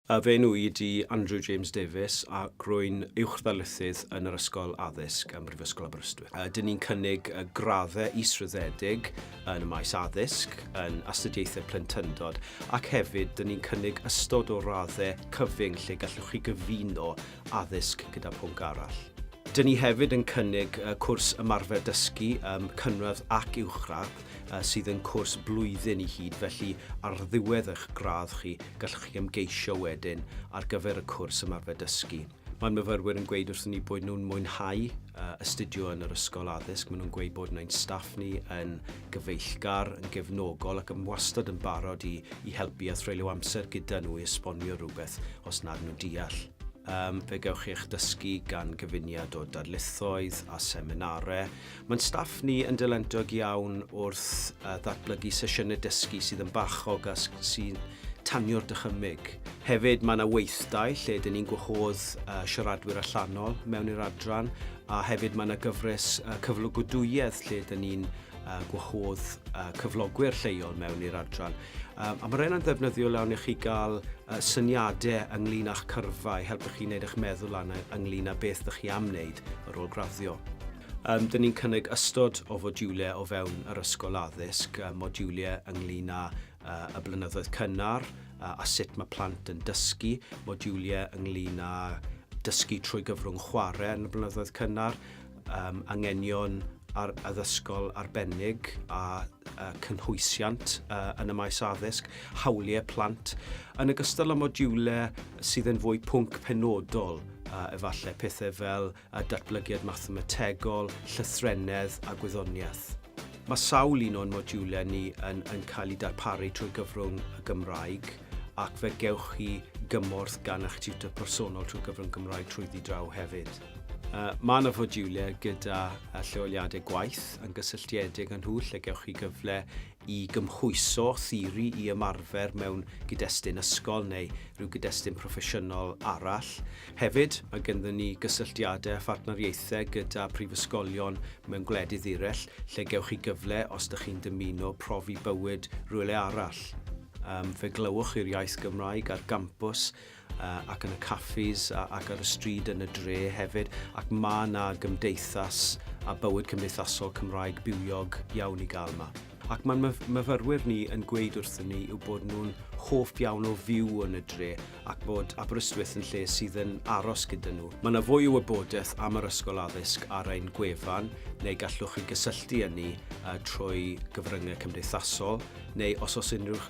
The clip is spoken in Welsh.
A fy enw i ydi Andrew James Davies ac rwy'n Uwchddarlithydd yn yr Ysgol Addysg ym Mhrifysgol Aberystwyth. Ydyn ni'n cynnig graddau israddedig yn y maes addysg, yn astudiaethau plentyndod ac hefyd dyn ni'n cynnig ystod o raddau cyfyng lle gallwch chi gyfuno addysg gyda phwnc arall. Dyn ni hefyd yn cynnig cwrs ymarfer dysgu ym cynradd ac uwchradd. sydd yn cwrs blwyddyn i hyd, felly ar ddiwedd eich gradd chi, gallwch chi ymgeisio wedyn ar gyfer y cwrs ymarfer dysgu. Mae myfyrwyr yn gweud wrthyn ni bod nhw'n mwynhau astudio yn yr ysgol addysg. Maen nhw'n gweud bod nhw'n ein staff ni yn gyfeillgar, yn gefnogol ac yn wastad yn barod i, i helpu a threulio amser gyda nhw i esbonio rhywbeth os nad nhw'n deall. Um, fe gewch chi eich dysgu gan gyfuniad o darlithoedd a seminarau Mae'n staff ni yn dylentog iawn wrth ddatblygu sesiynau dysgu sydd yn bachog a sy'n tanio'r dychymyg. Hefyd, mae yna weithdai lle dyn ni'n gwahodd siaradwyr allanol mewn i'r adran a hefyd mae yna gyfres cyflogadwyedd lle dyn ni'n gwahodd cyflogwyr lleol mewn i'r adran. A mae rheina'n ddefnyddiol iawn i chi gael syniadau ynglyn â'ch cyrfa i helpu chi wneud eich meddwl lan ynglyn â beth ydych chi am wneud ar ôl graddio. Yym, dyn ni'n cynnig ystod o fodiwliau o fewn yr ysgol addysg, yy modiwliau ynglyn â yy y blynyddoedd cynnar a, a sut mae plant yn dysgu, modiwliau ynglyn â dysgu trwy gyfrwng chwarae yn y blynyddoedd cynnar, um, angenion ar addysgol arbennig a, a cynhwysiant uh, yn y maes addysg, hawliau plant, yn ogystal â modiwlau sydd yn fwy pwnc penodol, uh, efallai pethau fel a Datblygiad Mathemategol, Llythrennedd a Gwyddoniaeth. Mae sawl un o'n modiwlau ni yn yn cael eu darparu trwy gyfrwng y Gymraeg ac fe gewch chi gymorth gan eich tiwtor personol trwy gyfrwng Gymraeg trwyddi draw hefyd. Uh, mae yna fodiwlau gyda lleoliadau gwaith yn gysylltiedig â nhw lle gewch chi gyfle i gymhwyso theori i ymarfer mewn gyd-destun ysgol neu rhyw gyd-destun proffesiynol arall. Hefyd, mae genddyn ni gysylltiadau a phartneriaethau gyda prifysgolion mewn gwledydd eraill lle gewch chi gyfle, os dych chi'n dymuno, profi bywyd rywle arall. Fe glywch chi'r iaith Gymraeg ar gampws ac yn y caffis ac ar y stryd yn y dre hefyd, ac ma' 'na gymdeithas a bywyd cymdeithasol Cymraeg bywiog iawn i gael 'ma. Ac ma'n myfyrwyr ni yn gweud wrthyn ni yw bod nhw'n hoff iawn o fyw yn y dre ac bod Aberystwyth yn lle sydd yn aros gyda nhw. Mae 'na fwy o wybodaeth am yr Ysgol Addysg ar ein gwefan neu gallwch chi gysylltu â ni trwy gyfryngau cymdeithasol neu os oes unrhyw